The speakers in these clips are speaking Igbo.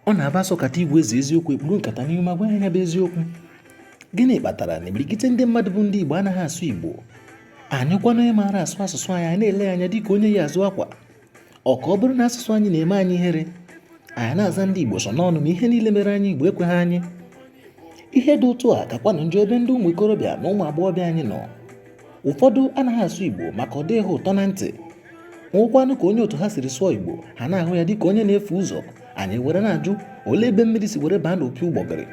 ọ na-abụ a sọkata ịgwa eze eziokwu e kpuru nkata n'ihu ma gwa ya nya bụ eziokwu gịnị kpatara na imirikite ndị mmadụ bụ ndị Igbo anaghị asụ Igbo anyị hụkwanụ onye maara asụ asụsụ anyị anyị na-ele ya anya dịka onye yi azụ akwa ọ ka ọ bụrụ na asụsụ anyị na-eme anyị ihere anyị na-aza ndị Igbo sọ n'ọnụ ma ihe niile mere anyị Igbo ekweghị anyị ihe dị otu a kakwanụ njọ ebe ndị ụmụ ikorobịa na ụmụ agbọghọbịa anyị nọ ụfọdụ anaghị asụ Igbo maka ọ dịghị ha ụtọ na ntị nwekwanụ ka onye otu ha siri sụọ Igbo ha na-ahụ ya dịka onye na-efu ụzọ anyị were na-ajụ olee ebe mmiri si were baa n'opi ụgbọgịrị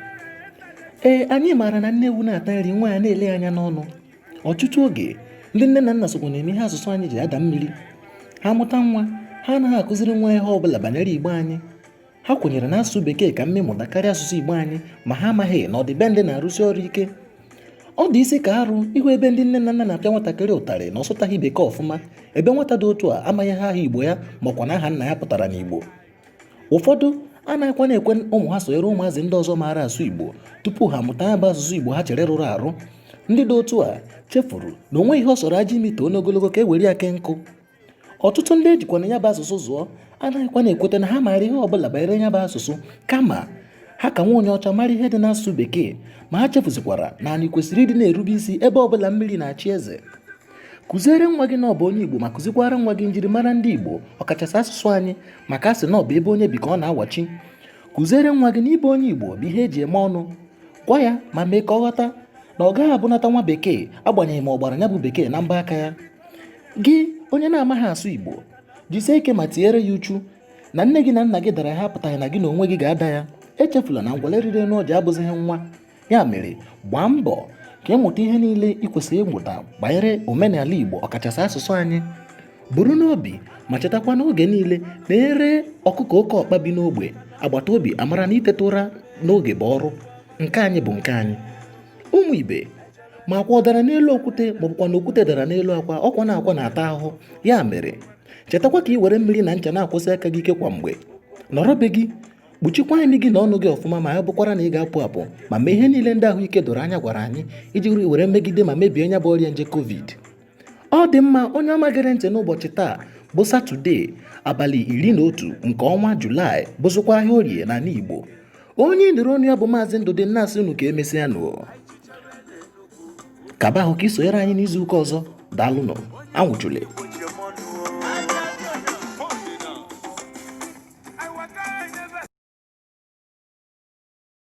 ee anyị maara na nne ewu na-ata nri nwa ya na-ele ya anya n'ọnụ ọtụtụ oge ndị nne na nna sokwa na-eme ihe asụsụ anyị ji ada mmiri ha mụta nwa ha anaghị akụziri nwa ya ihe ọ bụla banyere igbo anyị ha kwenyere na asụsụ bekee ka mma ịmụta karịa asụsụ igbo anyị ma ha amaghị na ọdịbendị na-arụsi ọrụ ike ọ dịzi ka arụ ịhụ ebe ndị nne na nna na-apịa nwatakịrị ụtarị na ọ sụtaghị bekee ọfụma ebe nwata dị otu a amaghị aha igbo ya makwa na aha nna ya pụtara n'igbo ụfọdụ anaghịkwanụ ekwe ụmụ ha sonyere ụmụazị ndị ọzọ maara asụ igbo tupu ha mụta ya bụ asụsụ igbo ha chere rụrụ arụ ndị dị otu a chefuru na o nweghị ihe ọ sọrọ ajị imi too n'ogologo ka e were ya kee nkụ ọtụtụ ndị e jikwanụ ya bụ asụsụ zụọ anaghịkwanụ ekweta na ha maara ihe ọbụla banyere ya bụ asụsụ kama ha ka nwa onye ọcha mara ihe dị n'asụsụ bekee ma ha chefuzikwara na anyị kwesịrị ịdị na-erube isi ebe ọbụla mmiri na-achị eze kụziere nwa gị na ọ bụ onye igbo ma kụzikwara nwa gị njirimara ndị igbo ọkachasị asụsụ anyị maka a sị na ọ bụ ebe onye bi ka ọ na-awachi kụziere nwa gị na ịbụ onye igbo bụ ihe e ji eme ọnụ gwa ya ma mee ka ọ ghọta na ọ gaghị abụnata nwa bekee agbanyeghị ma ọ gbara ya bụ bekee na mbọ aka ya gị onye na-amaghị asụ igbo jisie ike ma tinyere ya uchu na nne gị na nna gị dara ya apụtaghị na gị na onwe gị ga-ada ya echefula na ngwele rịrị n'ọjị abụzighị nwa ya mere gbaa mbọ ka ị mụta ihe niile ị kwesịrị ịmụta banyere omenala igbo ọkachasị asụsụ anyị buru n'obi ma chetakwa n'oge niile na e ree ọkụkọ oke ọkpa bi n'ogbe agbata obi amara na iteta ụra n'oge bụ ọrụ nke anyị bụ nke anyị ụmụ ibe ma akwa ọ dara n'elu okwute maọbụkwa na okwute dara n'elu akwa ọkwa na akwa na-ata ahụhụ ya mere chetakwa ka ị were mmiri na ncha na-akwọsi aka gị ike kwa mgbe nọrọ be gị kpuchikwa imi gị na ọnụ gị ọfụma ma ya bụkwara na ị ga-apụ apụ ma mee ihe niile ndị ahụike doro anya gwara anyị iji were megide ma mebie nya bụ ọrịa nje covid Ọ dị mma onye ọma gere ntị n'ụbọchị taa bụ Satọde abalị iri na otu nke ọnwa Julaị bụzụkwa ahịa orie n'ala Igbo. Onye ị nụrụ onu ya bụ Maazị Ndụdị na-asị unu ka emesịa nụ. Kaba ahụ ka i sonyere anyị n'izu ụka ọzọ daalụnụ anwụchule